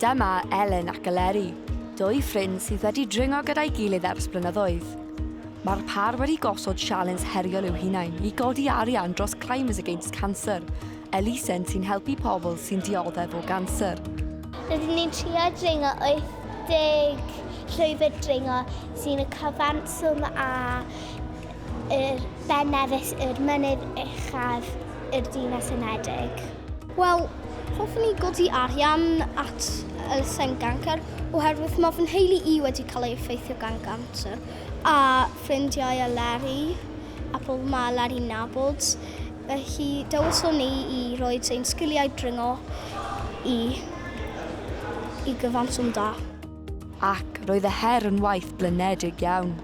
Dyma Elen ac Eleri, dwy ffrind sydd wedi dringo gyda'i gilydd ers blynyddoedd. Mae'r pâr wedi gosod sialens heriol i'w hunain i godi arian dros Climbers Against Cancer, elusen sy'n helpu pobl sy'n dioddef o ganser. Rydyn ni'n trio dringo 80 llwybr dringo sy'n y cyfanswm â Yr Ben Nevis yw'r mynydd uchaf i'r Dinas Unedig. Wel, hoffwn i godi arian at elusen gancer oherwydd mae fy nheulu i wedi cael ei effeithio gan gancer a ffrindiau a Larry a pobl mae Larry'n nabod. Felly dewiswn ni i roi ein sgiliau dringo i, i gyfanswm da. Ac roedd y her yn waith blinedig iawn.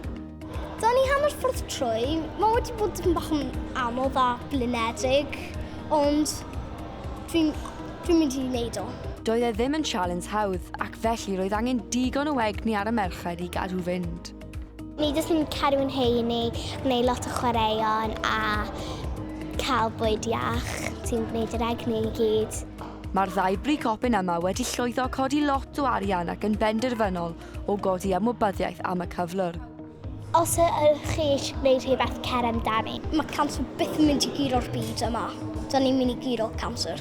Da ni hanner ffordd trwy. Mae wedi bod dipyn bach yn anodd a blinedig, ond dwi'n dwi mynd i wneud o. Doedd e ddim yn challenge hawdd, ac felly roedd angen digon o egni ar y merched i gadw fynd. Ni jyst yn cadw yn heini, gwneud lot o chwaraeon a cael bwyd iach sy'n gwneud yr egni i gyd. Mae'r ddau bricopyn yma wedi llwyddo codi lot o arian ac yn benderfynol o godi amwybyddiaeth am y cyflwr. Os ydych chi eisiau gwneud rhywbeth, cer amdani. Mae canser byth yn mynd i guro'r byd yma. Da ni'n mynd i guro canser.